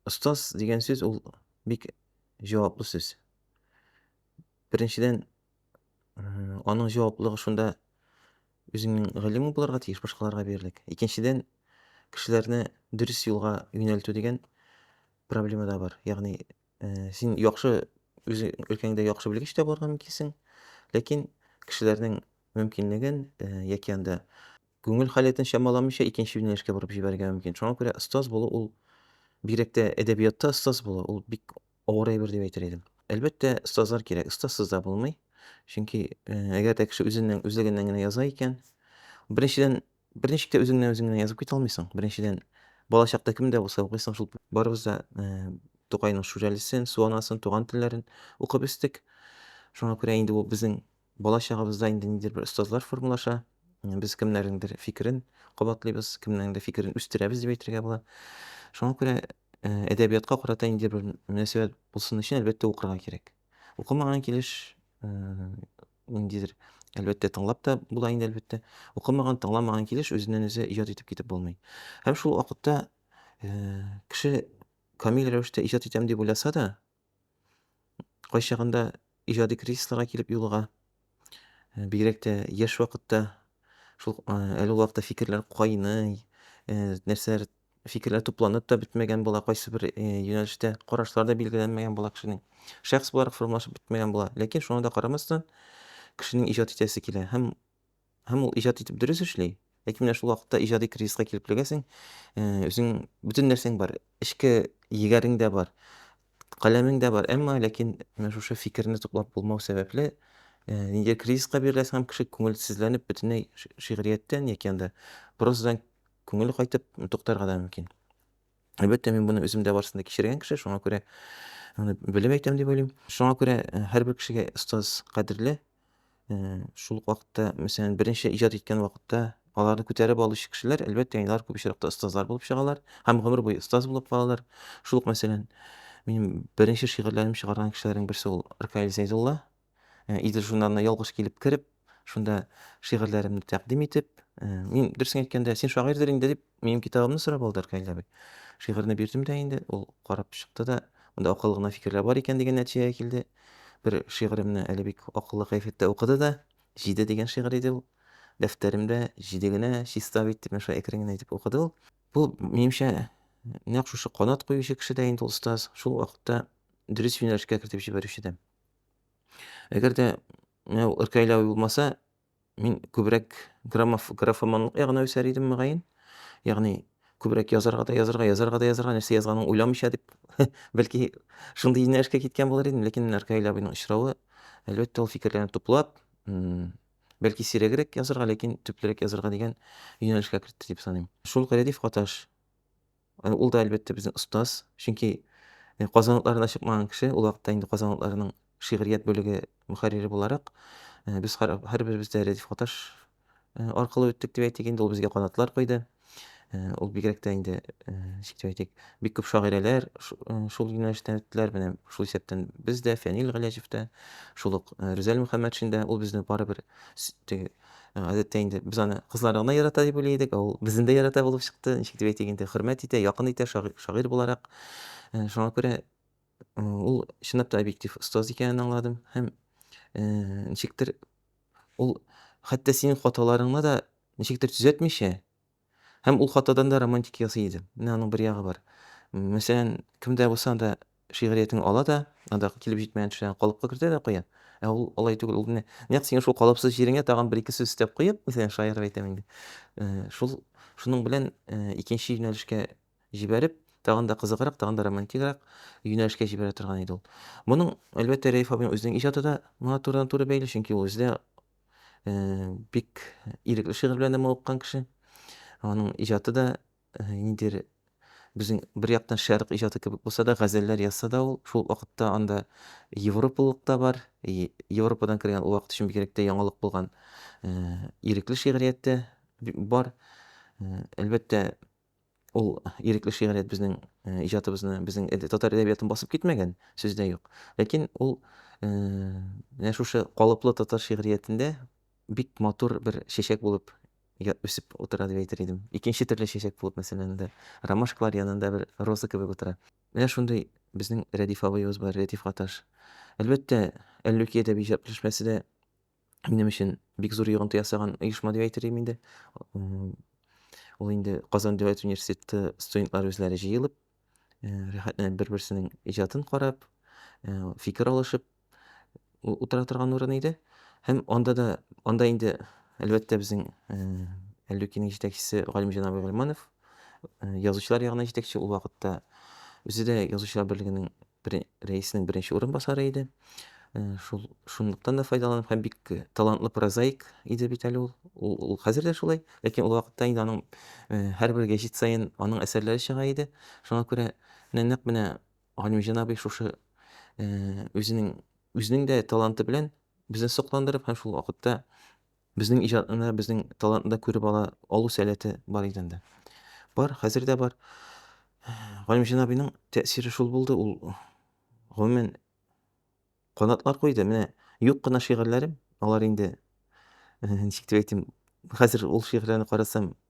Остаз дигән сүз ул бик җаваплы сүз. Беренчедән, аның җаваплылыгы шунда үзеңнең галимең булырга тиеш, башкаларга бирерлек. Икенчедән, кешеләрне дөрес юлга юнәлтү дигән проблема да бар. Ягъни, э, син яхшы үзе өлкәңдә яхшы белгеч тә булырга мөмкинсең, ләкин кешеләрнең мөмкинлеген э, яки анда күңел халәтен чамаламыйча икенче юнәлешкә борып җибәрергә мөмкин. Шуңа күрә остаз булу ул бигрәк тә әдәбиятта остаз булу ул бик авыр әйбер дип әйтер идем. Әлбәттә, остазлар кирәк. Остазсыз да булмый. Чөнки э, әгәр дә кеше үзеннән үзлегеннән генә яза икән, беренчедән берничек тә үзеңнән үзең генә язып китә алмыйсың. Беренчедән бала чакта кемдә булса укыйсың шул барыбыз да э, Тукайның Шүрәлесен, Суанасын, туган телләрен укып үстек. Шуңа күрә инде ул безнең Бала-чагыбызда инде ниндидер бер остазлар формалаша, без кемнәрнеңдер фикерен кабатлыйбыз, кемнеңдер фикерен үстерәбез дип әйтергә була. Шуңа күрә әдәбиятка карата ниндидер бер мөнәсәбәт булсын өчен, әлбәттә, укырга кирәк. Укымаган килеш ниндидер, әлбәттә, тыңлап та була инде, әлбәттә. Укымаган, тыңламаган килеш үзеннән-үзе иҗат итеп китеп булмый. Һәм шул вакытта кеше камил рәвештә иҗат итәм дип уйласа да, кайчагында иҗади кризисларга килеп юлыга. Э, бигрәк тә яшь вакытта шул э, әле ул вакытта фикерләр кайный, э, нәрсәләр фикерләр тупланып та бетмәгән була, кайсы бер юнәлештә карашлар да билгеләнмәгән була кешенең. Шәхес буларак формалашып бетмәгән була. Ләкин шуңа да карамастан, кешенең иҗат итәсе килә һәм Һәм ул иҗат итеп дөрес эшли, ләкин менә шул вакытта иҗади кризиска килеп эләгәсең, үзең бөтен нәрсәң бар, эчке егәрең дә бар, каләмең дә бар, әмма ләкин менә шушы фикерне туплап булмау сәбәпле, ниндидер кризиска биреләсең һәм кеше күңелсезләнеп бөтенләй шигърияттән яки анда прозадан күңеле кайтып туктарга да мөмкин. Әлбәттә, мин моны үзем дә барсында кичергән кеше, шуңа күрә аны белеп әйтәм дип уйлыйм. Шуңа күрә һәрбер кешегә остаз кадерле, шул ук вакытта мәсәлән беренче иҗат иткән вакытта аларны күтәреп алучы кешеләр әлбәттә алар күп очракта остазлар булып чыгалар һәм гомер буе остаз булып калалар шул ук мәсәлән минем беренче шигырьләрем чыгарган кешеләрнең берсе ул ркаил зәйдулла э, идел журналына ялгыш килеп кереп шунда шигырьләремне тәкъдим итеп э, мин дөресен әйткәндә син шагыйрьдер инде дип Минем китабымны сорап алды Аркадий абый. Шигырьне бирдем дә инде, ул карап чыкты да, монда акыллы гына фикерләр бар икән дигән нәтиҗәгә килде. Бер шигыремне әле бик акыллы кәефәттә укыды да, Җиде дигән шигырь иде ул. Дәфтәремдә җиде генә чиста бит, дип шулай әкрен генә итеп укыды ул. Бу, минемчә, нәкъ шушы канат куючы кеше дә инде ул остаз, шул вакытта дөрес юнәлешкә кертеп җибәрүче дә. Әгәр дә менә Аркадий абый булмаса, Мин күбрәк граммоф, графоманлык ягына үсәр идем, мөгаен. Ягъни, күбрәк язарга да язарга, язарга да язарга, нәрсә язганын уйламыйча дип, бәлки, шундый юнәлешкә киткән булыр идем. Ләкин менә Ркаил абыйның очравы, әлбәттә, ул фикерләрне туплап, бәлки сирәгрәк язарга, ләкин төплерәк язарга дигән юнәлешкә кертте дип саныйм. Шул ук рәдиф каташ. Ул да, әлбәттә, безнең остаз. Чөнки Казан утларына чыкмаган кеше, ул вакытта инде Казан утларының шигърият бүлеге мөхәррире буларак, без һәрберебез дә Рәдиф Гаташ аркылы үттек дип әйтик инде, ул безгә канатлар койды. Ул бигрәк тә инде, ничек дип әйтик, бик күп шагыйрәләр шул юнәлештән үттеләр. Менә шул исәптән без дә, Фәнил Галәҗев тә, шул ук Рүзәл Мөхәммәтшин дә. Ул безне барыбер Ә, гадәттә инде без аны кызларны гына ярата дип уйлый идек, ә ул безне дә ярата булып чыкты. Ничек дип әйтик инде, хөрмәт итә, якын итә шагыйрь, шагыйрь буларак. Ә, Шуңа күрә э, ул чынлап та объектив остаз икәнен аңладым һәм э, ничектер ул хәтта синең хаталарыңны да ничектер төзәтмичә, Һәм ул хатадан да романтик ясый иде. Менә аның бер ягы бар. Мәсәлән, кем дә булса да шигъриятен ала да, анда килеп җитмәгән төшләрен калыпка кертә дә куя. Ә ул алай түгел, ул менә нәкъ синең шул калыпсыз җиреңә тагын бер-ике сүз өстәп куеп, мәсәлән, шаярып әйтәм инде, шул, шуның белән икенче юнәлешкә җибәреп, тагын да кызыграк, тагын да романтигрәк юнәлешкә җибәрә торган иде ул. Моның, әлбәттә, Рәиф абыйның үзенең иҗаты да моңа турыдан-туры бәйле, чөнки ул үзе дә Бик ирекле шигырь белән дә мавыккан кеше. Аның иҗаты да ниндидер безнең бер яктан шәрык иҗаты кебек булса да, газәлләр язса да ул, шул вакытта анда европалылык та бар. Европадан кергән ул вакыт өчен бигрәк тә яңалык булган ирекле шигърият тә бар. Әлбәттә, Ул ирекле шигърият безнең э, иҗатыбызны, безнең татар әдәбиятын басып китмәгән, сүз дә юк. Ләкин ул э, менә шушы калыплы татар шигъриятендә бик матур бер чәчәк булып үсеп утыра дип әйтер идем. Икенче төрле чәчәк булып, мәсәлән, инде ромашкалар янында бер роза кебек утыра. Менә шундый безнең Рәдиф абыебыз бар, Рәдиф Гаташ. Әлбәттә, Әллүки әдәби җырчмәсе дә минем өчен бик зур йогынты ясаган оешма дип әйтер идем инде. Ул инде Казан дәүләт университеты студентлары үзләре җыелып, рәхәтләнеп бер-берсенең иҗатын карап, фикер алышып утыра торган урын иде. Һәм анда да, анда инде, әлбәттә, безнең Әллүкинең җитәкчесе Галимҗан абый Гальманов, язучылар ягына җитәкче, ул вакытта үзе дә язучылар берлегенең рәисенең беренче урынбасары иде. Шул шунлыктан да файдаланып һәм бик талантлы прозаик иде бит әле ул. Ул, ул хәзер дә шулай, ләкин ул вакытта инде аның һәрбер гәҗит саен аның әсәрләре чыга иде. Шуңа күрә менә нәкъ менә Галимҗан абый шушы үзенең үзенең дә таланты белән безне сокландырып һәм шул вакытта Безнең иҗатны да, безнең талантны да күреп ала алу сәләте бар иде инде. Бар, хәзер дә бар. Галимҗан абыйның тәэсире шул булды, ул гомумән канатлар куйды. Менә юк кына шигырьләрем, алар инде ничек дип әйтим, хәзер ул шигырьләрне карасам,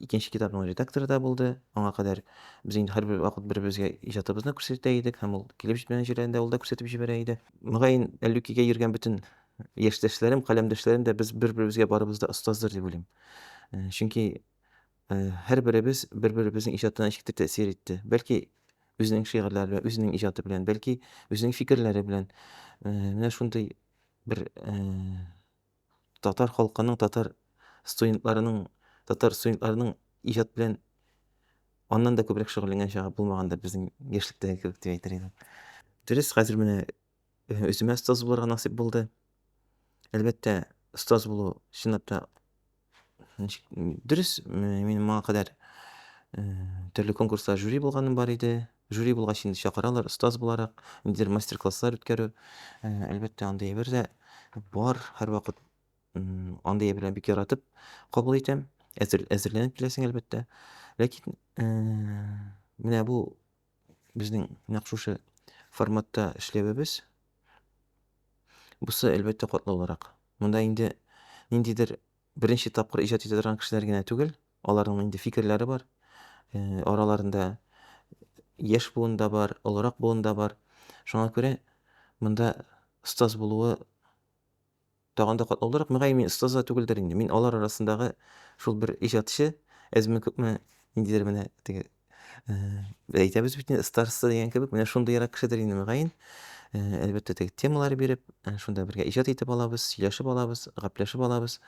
Икенче китапның редакторы да булды. Аңа кадәр без инде һәрбер вакыт бер-беребезгә иҗатыбызны күрсәтә идек һәм ул килеп җитмәгән җирләрендә ул да күрсәтеп җибәрә иде. Мөгаен, Әллүкигә йөргән бөтен яшьтәшләрем, каләмдәшләрем дә без бер-беребезгә барыбыз да остаздыр дип уйлыйм. Э, чөнки э, һәрберебез бер-беребезнең иҗатына ничектер тәэсир итте. Бәлки үзенең шигырьләре белән, үзенең иҗаты белән, бәлки үзенең фикерләре белән. Э, менә шундый бер Татар халкының, татар студентларының, татар студентларының иҗат белән аннан да күбрәк шөгыльләнгән чагы булмагандыр безнең яшьлектәге кебек дип әйтер идем. Дөрес, хәзер менә э, үземә остаз булырга насыйп булды. Әлбәттә, остаз булу чынлап та ничек, дөрес, мин моңа кадәр э, төрле конкурслар жюри булганым бар иде. Жюри булгач инде чакыралар, остаз буларак, ниндидер мастер-класслар үткәрү. Э, әлбәттә, андый әйбер дә бар. Һәрвакыт м, андый әйберләрне бик яратып кабул итәм. Әзер, әзерләнеп киләсең, әлбәттә. Ләкин э, менә бу безнең нәкъ шушы форматта эшләвебез, бусы, әлбәттә, катлаулырак. Монда инде ниндидер беренче тапкыр иҗат итә торган кешеләр генә түгел, Аларның инде фикерләре бар. Араларында яшь буын да бар, олырак буын да бар. Шуңа күрә монда остаз булуы тагын да катлаулырак. Мөгаен, мин остаз да түгелдер инде. Мин алар арасындагы шул бер иҗатчы, әзме-күпме ниндидер менә теге Без әйтәбез бит инде, староста дигән кебек, менә шундыйрак кешедер инде мөгаен. Әлбәттә, теге темалар биреп, шунда бергә иҗат итеп алабыз, сөйләшеп алабыз, гәпләшеп алабыз.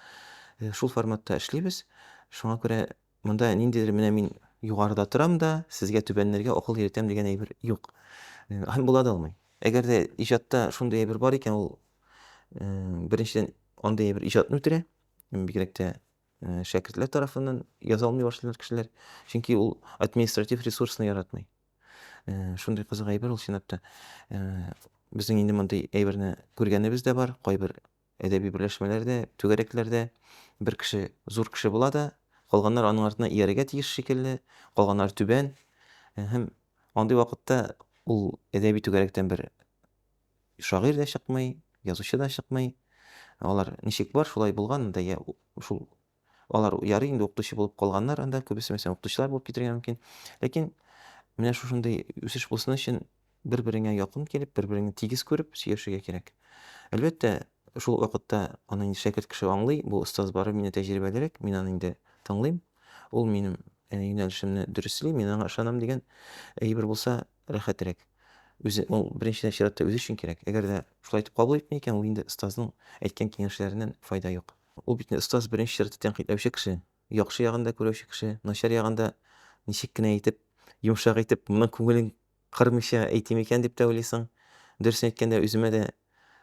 Шул форматта эшлибез. Шуңа күрә монда ниндидер менә мин югарыда торам да, сезгә түбәннәргә акыл йөртәм дигән әйбер юк. Һәм була да алмый. Әгәр дә иҗатта шундый әйбер бар икән, ул беренчедән андый әйбер иҗатны үтерә, бигрәк тә Э, шәкертләр тарафыннан яза алмый башлыйлар кешеләр чөнки ул административ ресурсны яратмый э, шундый кызык әйбер ул чынлап та э, безнең инде мондый әйберне күргәнебез дә бар кайбер әдәби берләшмәләрдә түгәрәкләрдә бер кеше зур кеше була да калганнар аның артына иярергә тиеш шикелле калганнар түбән һәм андый вакытта ул әдәби түгәрәктән бер Шагыйрь дә чыкмый, язучы да чыкмый. Алар ничек бар, шулай булган анда, я шул алар ярый инде укытучы булып калганнар анда, күбесе мәсәлән укытучылар булып китергә мөмкин. Ләкин менә шушындый үсеш булсын өчен бер-береңә якын килеп, бер-береңне тигез күреп сөйләшергә кирәк. Әлбәттә, шул вакытта аны инде шәкерт кеше аңлый, бу остаз бары мине тәҗрибәлерәк, мин аны инде тыңлыйм, ул минем э, юнәлешемне дөресли, мин аңа ышанам дигән әйбер булса, рәхәтрәк. Үзе, ул беренче чиратта үзе өчен кирәк. Әгәр дә шулай итеп кабул итми икән, ул инде остазның әйткән киңәшләреннән файда юк. Ул бит инде остаз беренче чиратта тәнкыйтьләүче кеше, яхшы ягын да күрәүче кеше, начар ягын да ничек кенә итеп, йомшак итеп, моның күңелен кырмыйча әйтим икән дип тә уйлыйсың. Дөресен әйткәндә, үземә дә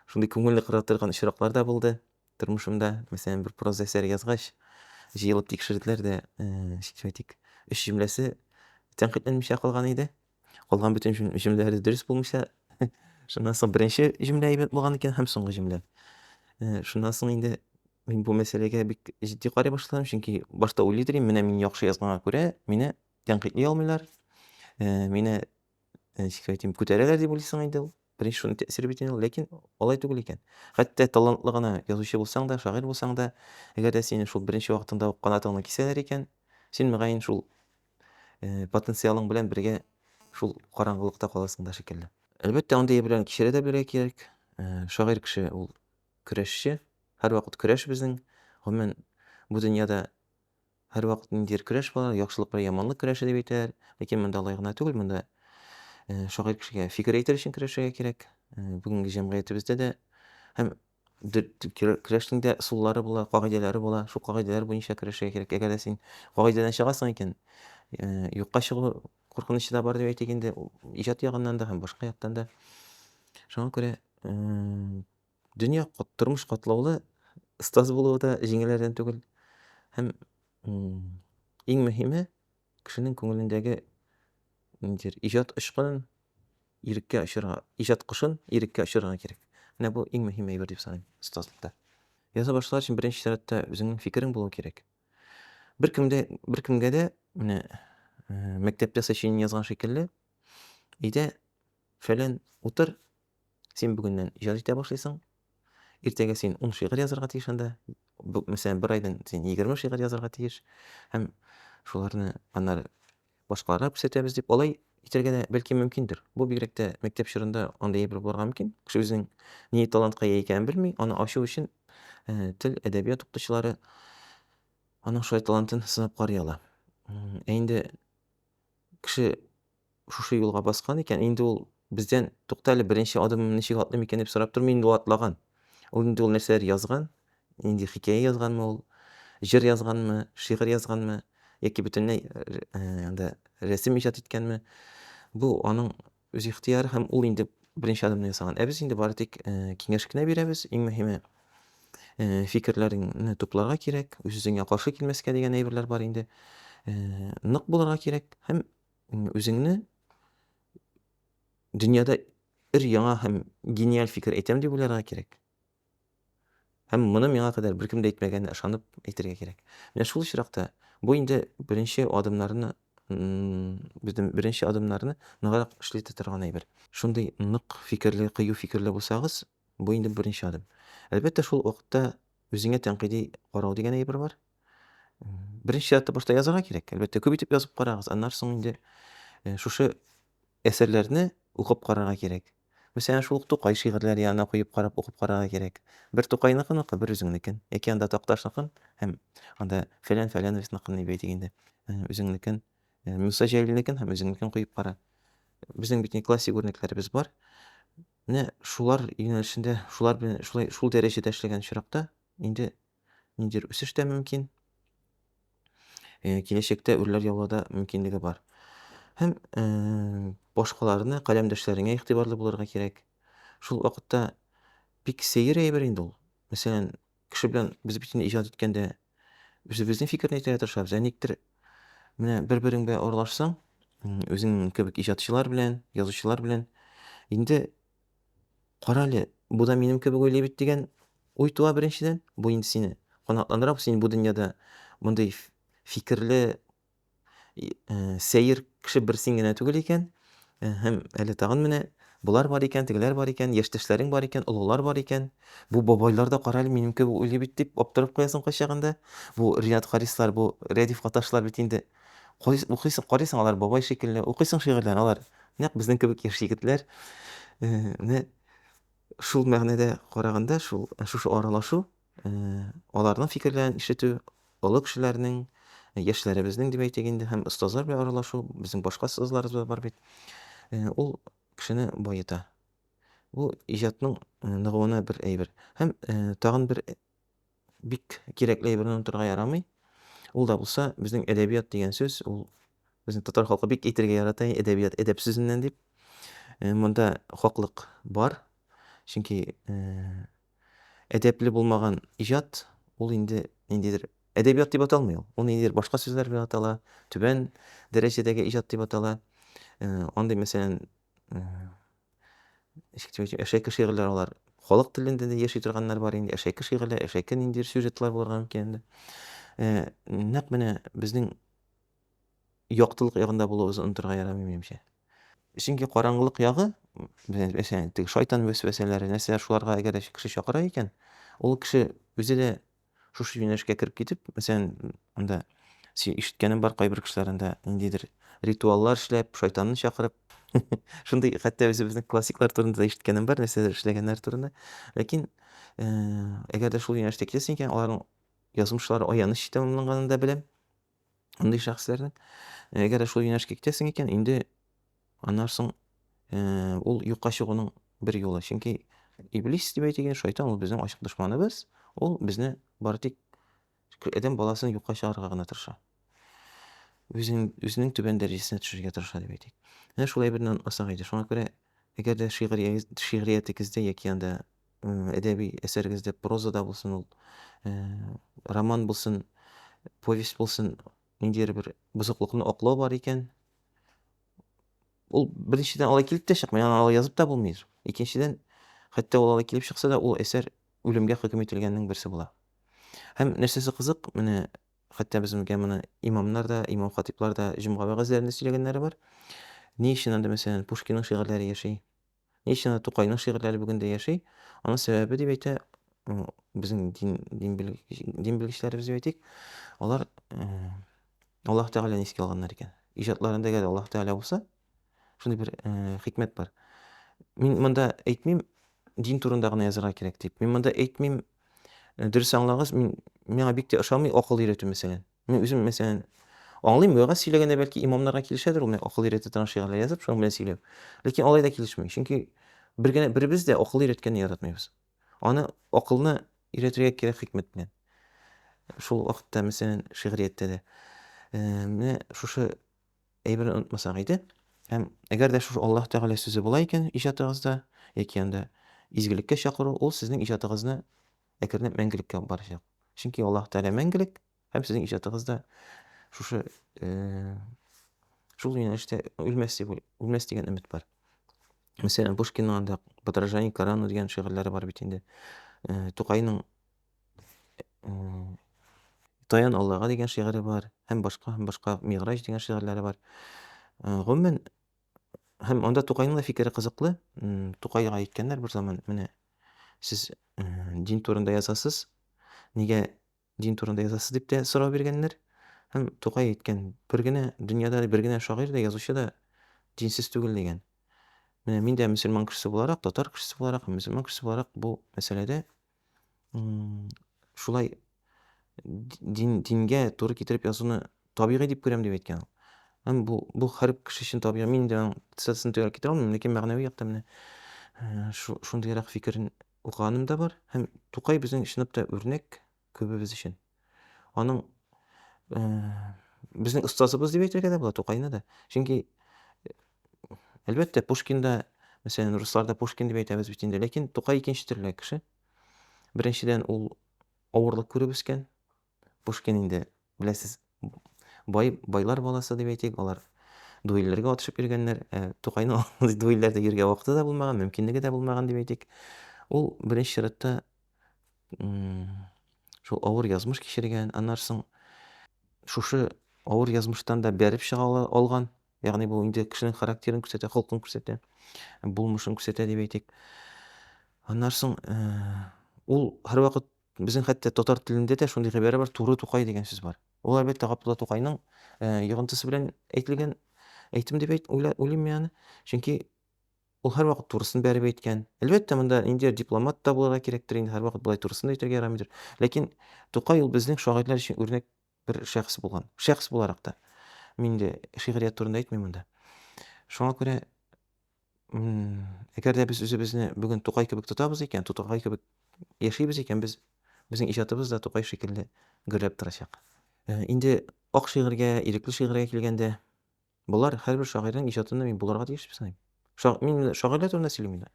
шундый күңелне кыра торган очраклар да булды. тормышымда, мәсәлән, бер проза әсәр язгач, җыелып тикшерделәр дә, ничек әйтик, өч җөмләсе тәнкыйтьләнмичә калган иде. Калган бөтен җөмләләре дөрес булмыйча. Шуннан соң беренче җөмлә әйбәт булган икән һәм соңгы җөмлә. Шуннан соң инде мин бу мәсьәләгә бик җитди карый башладым, чөнки башта уйлый идем, менә мин яхшы язганга күрә, мине тәнкыйтьли алмыйлар, мине ничек әйтим, күтәрәләр дип уйлыйсың инде ул. Беренче шуның тәэсире бит инде ул, ләкин алай түгел икән. Хәтта талантлы гына язучы булсаң да, шагыйрь булсаң да, әгәр дә сине шул беренче вакытында ук канатыңны кисәләр икән, син мөгаен шул э, потенциалың белән бергә шул караңгылыкта каласың да шикелле. Әлбәттә, андый әйберләрне кичерә дә белергә кирәк. Э, Шагыйрь кеше ул көрәшче. Һәрвакыт көрәш безнең. Гомумән, бу дөньяда Һәрвакыт ниндидер көрәш бар, яхшылык белән яманлык көрәше дип әйтәләр. Ләкин монда алай гына түгел, монда шагыйрь кешегә фикер әйтер өчен көрәшергә кирәк. Бүгенге җәмгыятебездә дә һәм көрәшнең дә ысуллары була, кагыйдәләре була. Шул кагыйдәләр буенча көрәшергә кирәк. Әгәр дә син кагыйдәдән чыгасың икән, юкка чыгу куркынычы да бар дип әйтик инде, иҗат ягыннан да һәм башка яктан да. Шуңа күрә Дөнья, тормыш катлаулы, остаз булуы да җиңелләрдән түгел. Һәм иң мөһиме, кешенең күңелендәге ниндидер иҗат очкынын иреккә очырга, иҗат кошын иреккә очырга кирәк. Менә бу иң мөһим әйбер дип саныйм остазлыкта. Яза башлар өчен беренче чиратта үзеңнең фикерең булу кирәк. Беркемдә, беркемгә дә менә мәктәптә сочинение язган шикелле, өйдә фәлән утыр, Син бүгеннән иҗат итә башлыйсың. Иртәгә син ун шигырь язарга тиеш анда. Мәсәлән, бер айдан син егерме шигырь язарга тиеш. Һәм шуларны аннары башкаларга күрсәтәбез дип, алай итәргә дә бәлки мөмкиндер. Бу бигрәк тә мәктәп чорында андый әйбер булырга мөмкин. Кеше үзенең ни талантка ия икәнен белми, аны ачу өчен э, тел, әдәбият укытучылары аның шулай талантын сынап карый ала. Ә инде кеше Шушы юлга баскан икән, инде ул бездән, Тукта әле, беренче адымым ничек атлыйм икән, дип сорап тормый, инде ул атлаган. Ул инде ул нәрсәләр язган, нинди хикәя язганмы ул, җыр язганмы, шигырь язганмы, яки бөтенләй анда рәсем иҗат иткәнме, бу аның үз ихтыяры һәм ул инде беренче адымны ясаган. Ә без инде бары тик киңәш кенә бирәбез. Иң мөһиме, фикерләреңне тупларга кирәк, үз-үзеңә каршы килмәскә дигән әйберләр бар инде. Нык булырга кирәк һәм Үзеңне дөньяда ир яңа һәм гениаль фикер әйтәм дип уйларга кирәк. Һәм моны миңа кадәр беркем дә әйтмәгәнне ышанып әйтергә кирәк. Менә шул очракта бу инде беренче адымнарны безнең беренче адымнарны ныграк эшли торган әйбер. Шундый нык фикерле, кыю фикерле булсагыз, бу инде беренче адым. Әлбәттә, шул вакытта үзеңә тәнкыйди карау дигән әйбер бар. Беренче чиратта башта язарга кирәк. Әлбәттә, күп итеп язып карагыз. Аннан соң инде э, шушы әсәрләрне укып карарга кирәк. Мәсәлән, шул ук Тукай шигырьләре янына куеп карап укып карарга кирәк. Бер Тукайныкын ука, бер үзеңнекен. Яки анда Такташныкын һәм анда фәлән фәләновецныкын дип әйтик инде. Э, үзеңнекен, э, Муса Җәлилнекен һәм үзеңнекен куеп кара. Безнең бит не классик үрнәкләребез бар. Менә шулар юнәлешендә, шулар белән шулай шул дәрәҗәдә эшләгән очракта инде ниндидер үсеш тә мөмкин. Э, киләчәктә үрләр яулауда мөмкинлеге бар. Һәм э, башкаларны, каләмдәшләреңә игътибарлы булырга кирәк. Шул вакытта бик сәер әйбер инде ул. Мәсәлән, кеше белән без бит инде иҗат иткәндә үзебезнең фикерне әйтергә тырышабыз. Ә никтер менә бер-берең белән аралашсаң, үзең кебек иҗатчылар белән, язучылар белән инде Карале, бу да минем кебек уйлый бит дигән уй туа беренчедән. Бу инде сине канатландыра, син бу дөньяда мондый фикерле э, сәер кеше бер син генә түгел икән. Э, һәм әле тагын менә болар бар икән, тегеләр бар икән, яшьтәшләрең бар икән, олылар бар икән. Бу бабайлар да карале минем кебек уйлый бит дип аптырап куясың кайчагында. Бу Рият Харислар, бу Рәдиф Каташлар бит инде Карыйсың, укыйсың, карыйсың, алар бабай шикелле, укыйсың шигырьләрен, алар нәкъ безнең кебек яшь егетләр. Менә шул мәгънәдә караганда, шул шушы аралашу, аларның фикерләрен ишетү, олы кешеләрнең, яшьләребезнең дип әйтик инде, һәм остазлар белән аралашу, безнең башка остазларыбыз да бар бит. Ул кешене баета. Бу иҗатның ныгуына бер әйбер. Һәм тагын бер бик кирәкле әйберне онытырга ярамый. Ул да булса, безнең әдәбият дигән сүз, ул безнең татар халкы бик әйтергә ярата, әдәбият әдәп сүзеннән дип. Э, монда хаклык бар. Чөнки э, әдәпле булмаган иҗат ул инде ниндидер әдәбият дип аталмый ул. Ул ниндидер башка сүзләр белән атала, түбән дәрәҗәдәге иҗат дип атала. Э, андый, мәсәлән, Әшәке шигырьләр алар. Халык телендә дә яши торганнар бар инде. Әшәке шигырьләр, әшәке ниндидер сюжетлар булырга мөмкин инде. Э, нәкъ менә безнең яктылык ягында булуыбызны онытырга ярамый, минемчә. Чөнки караңгылык ягы, мәсәлән, теге шайтан вәсвәсәләре, нәрсәләр шуларга әгәр кеше чакыра икән, ул кеше үзе дә Шушы юнәлешкә кереп китеп, мәсәлән, анда син ишеткәнем бар, кайбер кешеләр анда ниндидер ритуаллар эшләп, шайтанны чакырып, шундый хәтта үзебезнең классиклар турында да ишеткәнем бар, нәрсәләр эшләгәннәр турында. Ләкин э, әгәр дә шул юнәлештә китәсең икән, аларның язмышлары аяныч итә, монын да беләм. андый шәхесләрнең әгәр шул юнәлешкә китәсең икән инде аннан соң ул юкка чыгуның бер юлы чөнки иблис дип әйтелгән шайтан ул безнең ачык дошманыбыз ул безне бары тик адәм баласын юкка чыгарырга гына тырыша үзен үзенең түбән дәрәҗәсенә төшерергә тырыша дип әйтик менә шулай берне онытмасак иде шуңа күрә әгәр дә шигъриятегездә яки анда әдәби әсәрегездә прозада булсын ул роман булсын повесть булсын ниндидер бер бозыклыкны аклау бар икән ул беренчедән алай килеп тә чыкмый аны алай язып та булмый икенчедән хәтта ул алай килеп чыкса да ул әсәр үлемгә хөкем ителгәннең берсе була һәм нәрсәсе кызык менә хәтта безгә моны имамнар да имам хатиблар да җомга вәгазьләрендә сөйләгәннәре бар ни өчен анда мәсәлән пушкинның шигырьләре яши Ни өчен аны Тукайның шигырьләре бүген дә яши? Аның сәбәбе дип әйтә м, безнең дин дин белгеч- дин белгечләребез дип әйтик, алар э, Аллаһ Тәгаләне искә алганнар икән. Иҗатларында әгәр Аллаһ Тәгалә булса, шундый бер э, хикмәт бар. Мин монда әйтмим, дин турында гына язарга кирәк дип. Мин монда әйтмим, э, дөрес аңлагыз, мин миңа бик тә ошамый акыл өйрәтү мәсәлән. Мин үзем, мәсәлән, аңлыйм, вәгазь сөйләгәндә бәлки имамнарга килешәдер ул, акыл өйрәтүдән шигырьләр язып, шуның белән сөйләп. Ләкин алай да килешми. Чөнки бер генә беребез дә акыл өйрәткәнне яратмыйбыз. Аны акылны өйрәтергә кирәк хикмәт белән. Шул вакытта, мәсәлән, шигърияттә дә. Э, менә шушы әйберне онытмасак иде. Һәм әгәр дә шушы Аллаһ Тәгалә сүзе була икән иҗатыгызда яки анда изгелеккә чакыру, ул сезнең иҗатыгызны әкренләп мәңгелеккә барачак. Чөнки Аллаһ Тәгалә мәңгелек һәм сезнең иҗатыгыз да шушы э, шул юнәлештә үлмәс дип үлмәс дигән өмет бар. Мәсәлән, Пушкинның анда Подражание Корану дигән шигырьләре бар бит инде. Э, Тукайның э, Таян Аллага дигән шигыре бар, һәм башка һәм башка Миграҗ дигән шигырьләре бар. Э, гомумән, һәм анда Тукайның да фикере кызыклы. Тукайга әйткәннәр бер заман, менә Сез дин турында язасыз, нигә дин турында язасыз дип тә сорау биргәннәр. Һәм Тукай әйткән, бер генә дөньяда бер генә шагыйрь дә, язучы да динсез түгел дигән. Менә мин дә мөселман кешесе буларак, татар кешесе буларак, мөселман кешесе буларак бу мәсьәләдә шулай дин, дингә туры китереп язуны табигый дип күрәм дип әйткән ул. Һәм бу, бу һәр кеше өчен табигый. Мин инде аның цитатасын төгәл китерә алмыйм, ләкин мәгънәви яктан менә э, шундыйрак фикерен укыганым да бар. Һәм Тукай безнең чынлап та үрнәк күбебез өчен. Аның э, безнең остазыбыз дип әйтергә дә була Тукайны да. Чөнки э, әлбәттә Пушкинда, мәсәлән, русларда Пушкин дип әйтәбез бит инде, ләкин Тукай икенче төрле кеше. Беренчедән ул Авырлык күреп үскән. Пушкин инде, беләсез, бай, байлар баласы дип әйтик, алар дуэльләргә атышып йөргәннәр. Ә Тукайның дуэльләрдә йөргә вакыты да булмаган, мөмкинлеге дә булмаган дип әйтик. Ул беренче чиратта шул авыр язмыш кичергән, аннары соң шушы авыр язмыштан да бәреп чыга алган. Ягъни бу инде кешенең характерын күрсәтә, холкын күрсәтә, булмышын күрсәтә дип әйтик. Аннан соң э, ул һәрвакыт безнең хәтта татар телендә дә шундый гыйбарә бар, туры тукай дигән сүз бар. Ул әлбәттә Габдулла Тукайның э, йогынтысы белән әйтелгән әйтем дип әйт, уйлыйм мин аны. Чөнки ул һәрвакыт турысын бәреп әйткән. Әлбәттә, монда инде дипломат та булырга кирәктер, инде һәрвакыт болай турысын да әйтергә ярамыйдыр. Ләкин Тукай ул безнең шагыйрьләр өчен үрнәк бер шәхес булган. Шәхес буларак та. Мин дә шигърият турында әйтмим монда. Шуңа күрә әгәр дә без үзебезне бүген Тукай кебек тотабыз икән, Тукай кебек яшибез икән, без безнең иҗатыбыз да Тукай шикелле гөрләп торачак. Инде ак шигырьгә, ирекле шигырьгә килгәндә, Болар һәрбер шагыйрьнең иҗатында мин булырга тиеш дип саныйм. Ша, мин менә шагыйрьләр турында сөйлим инде.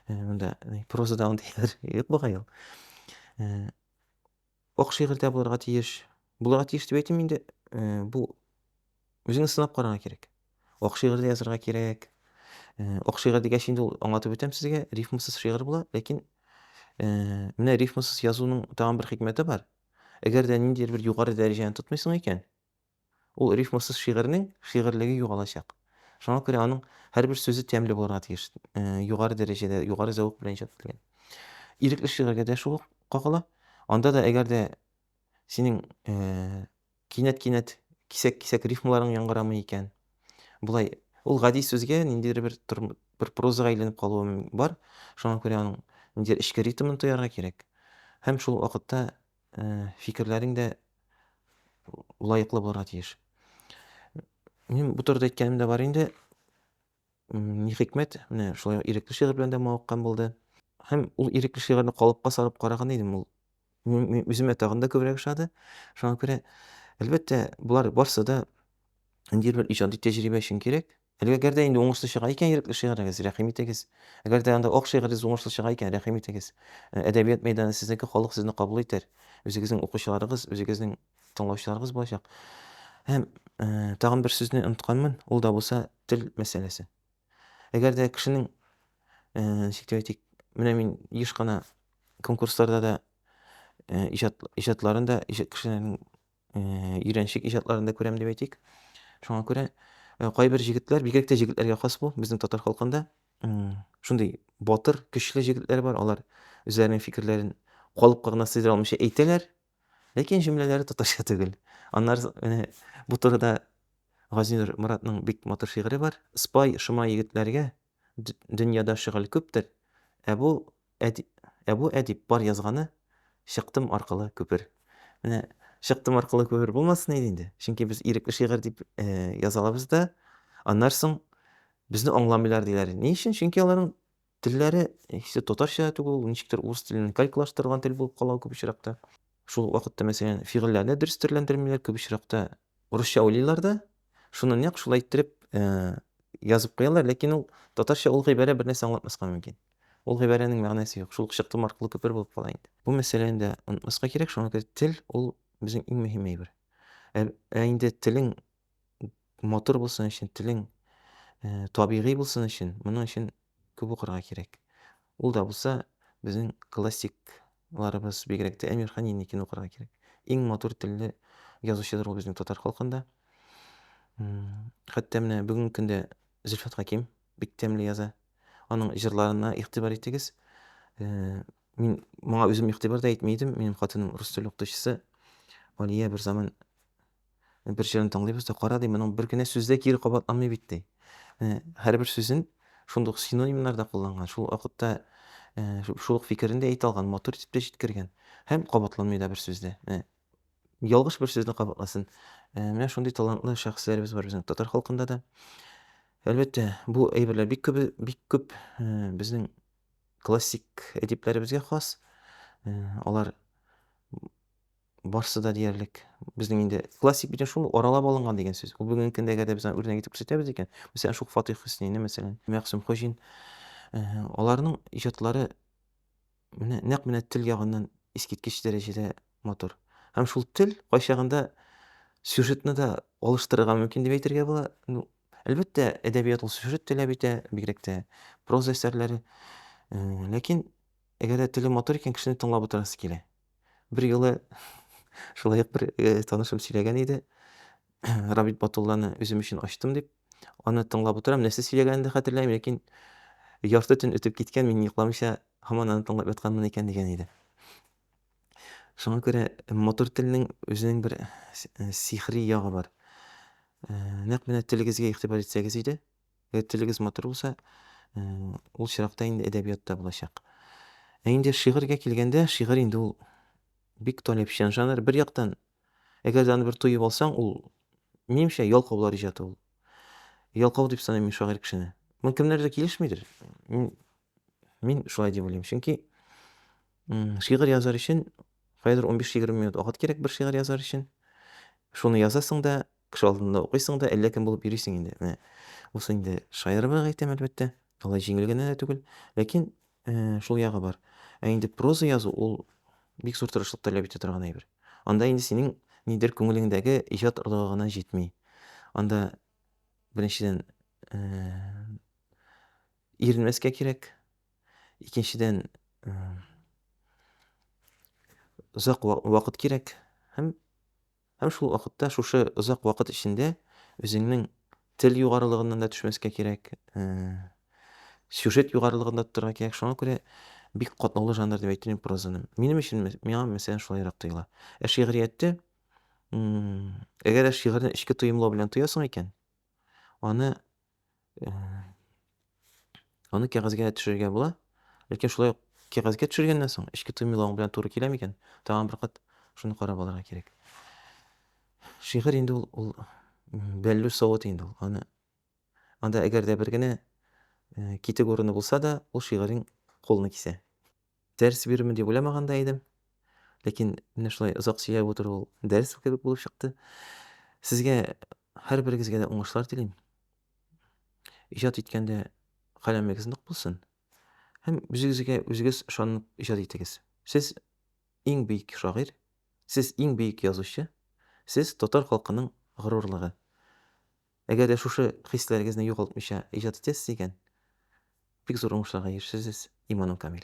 Э, Монда э, прозада андый хәлләр юк бугай ул. Э, Ак шигырьдә булырга тиеш. Булырга тиеш дип әйтим инде. Э, Бу үзеңне сынап карарга кирәк. Ак шигырьдә язарга кирәк. Э, Ак шигырь дигәч инде ул аңлатып үтәм сезгә, рифмасыз шигырь була, ләкин э, менә рифмасыз язуның тагын бер хикмәте бар. Әгәр дә ниндидер бер югары дәрәҗәне тотмыйсың икән, Ул рифмасыз шигырьнең шигырьлеге югалачак. Шуңа күрә аның һәрбер сүзе тәмле булырга тиеш, югары дәрәҗәдә, югары зәвык белән иҗат ителгән. Ирекле шигырьгә дә шул ук кагыла. Анда да әгәр дә синең кинәт-кинәт, кисәк-кисәк рифмаларың яңгырамый икән, болай ул гади сүзгә ниндидер бер бер прозага әйләнеп калуы бар. Шуңа күрә аның ниндидер эчке ритмын тоярга кирәк. Һәм шул вакытта фикерләрең дә лаеклы булырга тиеш. Мин бу турыда әйткәнем дә бар инде. Ни хикмәт, менә шулай ирекле шигырь белән дә мавыккан булды. Һәм ул ирекле шигырьне калыпка салып караган идем, ул мин үземә тагын да күбрәк ошады. Шуңа күрә, әлбәттә, болар барсы да ниндидер бер иҗади тәҗрибә өчен кирәк. Әлеге әгәр дә инде уңышлы чыга икән ирекле шигырегез, рәхим итегез. Әгәр дә анда ок шигырегез уңышлы чыга икән, рәхим итегез. Э, әдәбият мәйданы сезнеке, халык сезне кабул итәр. Үзегезнең укучыларыгыз, үзегезнең тыңлаучыларыгыз булачак. Һәм э, тагын бер сүзне онытканмын, ул да булса тел мәсьәләсе. Әгәр дә кешенең, э, ничек дип әйтик, менә мин еш кына конкурсларда да э, иҗат, иҗатларын да, иҗат кешеләрнең өйрәнчек иҗатларында күрәм дип әйтик. Шуңа күрә кайбер җегетләр, бигрәк тә җегетләргә хас бу, безнең татар халкында шундый батыр, көчле җегетләр бар, алар үзләренең фикерләрен калыпка гына сыйдыра алмыйча әйтәләр, ләкин җөмләләре татарча түгел. Аннары менә бу турыда Газинур Моратның бик матур шигыре бар. Спай шома егетләргә, Дөньяда шөгыль күптер, Ә бу, Ә бу әдип бар язганы, Чыктым аркылы күпер. Менә Чыктым аркылы күпер булмасын иде инде, чөнки без ирекле шигырь дип яза алабыз да, аннан соң безне аңламыйлар диләр. Ни өчен? Чөнки аларның телләре һичте татарча да түгел, ничектер урыс теленнән калькалаштырылган тел булып кала күп очракта. Шул вакытта, мәсәлән, фигыльләрне дөрес төрләндермиләр, күп очракта урысча уйлыйлар да, Шуны нәкъ шулай иттереп язып куялар, ләкин ул татарча ул гыйбарә бер нәрсә аңлатмаска мөмкин. Ул гыйбарәнең мәгънәсе юк, шул ук чыктым аркылы күпер булып кала инде. Бу мәсьәләне дә онытмаска кирәк, шуңа күрә тел ул безнең иң мөһим әйбер. Ә, ә инде телең матур булсын өчен, телең табигый булсын өчен, моның өчен Күп укырга кирәк. Ул да булса, безнең классикларыбыз, бигрәк тә Әмирхан Енникин укырга кирәк. Иң матур телле язучыдыр ул безнең татар халкында. Хәтта менә бүгенге көндә Зөлфәт Хаким бик тәмле яза. Аның җырларына игътибар итегез. Э, мин моңа үзем игътибар да итми идем. Минем хатыным рус теле укытучысы. Алия бер заман Бер җырын тыңлыйбыз да, кара, ди, моның бер генә сүз дә кире кабатланмый бит, ди. Менә һәрбер сүзен шундый ук синонимнар да кулланган, шул ук вакытта шул ук фикерен дә әйтә алган, матур итеп тә җиткергән. Һәм кабатланмый да бер сүз дә. Менә ялгыш бер сүзне кабатласын. Менә шундый талантлы шәхесләребез бар безнең татар халкында да. Әлбәттә, бу әйберләр бик күп, бик күп безнең классик әдипләребезгә хас. Алар барсы да диярлек безнең инде классик бит шул аралап алынган дигән сүз ул бүгенге көндәге дә без аны үрнәк итеп күрсәтәбез икән мәсәлән шул фатих хөснейны мәсәлән мәгъсүм хуҗин аларның иҗатлары менә нәкъ менә тел ягыннан искиткеч дәрәҗәдә матур һәм шул тел кайчагында сюжетны да алыштырырга мөмкин дип әйтергә була ну әлбәттә әдәбият ул сюжет таләп итә бигрәк тә проза әсәрләре ләкин әгәр дә теле матур икән кешене тыңлап утырасы килә Берьюлы шулай ук бер танышым сөйләгән иде. Рабит Батулланы үзем өчен ачтым дип. Аны тыңлап утырам. Нәрсә сөйләгәнен дә хәтерләмим, ләкин ярты төн үтеп киткән, мин йокламыйча һаман аны тыңлап ятканмын икән дигән иде. Шуңа күрә матур телнең үзенең бер сихри ягы бар. Нәкъ менә телегезгә игътибар итсәгез иде. Әгәр телегез матур булса, ул чиракта инде әдәбият та булачак. Ә инде шигырьгә килгәндә, шигырь инде ул бик таләпчән жанр. Бер яктан, әгәр дә аны бер тоеп алсаң, ул минемчә ялкаулар иҗаты ул. Ялкау дип саныйм мин шагыйрь кешене. Мин кемнәрдә килешмидер. Мин мин шулай дип уйлыйм. Чөнки шигырь язар өчен кайдыр 15-20 минут вакыт кирәк бер шигырь язар өчен. Шуны язасың да, Кеше алдында укыйсың да, әллә кем булып йөрисең инде. Менә бусы инде шаярыбрак әйтәм, әлбәттә. Алай җиңел генә дә түгел. Ләкин шул ягы бар. Ә инде проза язу ул бик зур тырышлык таләп итә торган әйбер. Анда инде синең нидер күңелеңдәге иҗат орлыгы гына җитми. Анда беренчедән иренмәскә кирәк. Икенчедән озак вакыт кирәк һәм Һәм шул ук вакытта шушы озак вакыт эчендә үзеңнең тел югарылыгыннан да төшмәскә кирәк, сюжет югарылыгын да тотарга кирәк. Шуңа күрә бик катлаулы жанр дип әйтер идем прозаны. Минем өчен миңа мәсәлән шулайрак тоела. Ә шигъриятте м, әгәр дә шигырьне эчке тоемлау белән тоясың икән, аны Аны кәгазьгә төшерергә була. Ләкин шулай ук кәгазьгә төшергәннән соң эчке тоймалавың белән туры килә микән? Тагын бер кат шуны карап алырга кирәк. Шигырь инде ул, ул бәллү савыт инде ул. Аны анда әгәр дә бер генә китек урыны булса да, ул шигырьнең кулны кисә. Дәрес бирермен дип уйламаган да идем. Ләкин менә шулай озак сөйләп утыру ул дәрес кебек булып чыкты. Сезгә һәрберегезгә дә уңышлар телим. Иҗат иткәндә каләмегез нык булсын. Һәм үзегезгә үзегез ышанып иҗат итегез. Сез иң бөек шагыйрь, сез иң бөек язучы, сез татар халкының горурлыгы. Әгәр дә шушы хисләрегезне югалтмыйча иҗат итәсез икән, бик зур уңышларга ирешерсез, иманым камил.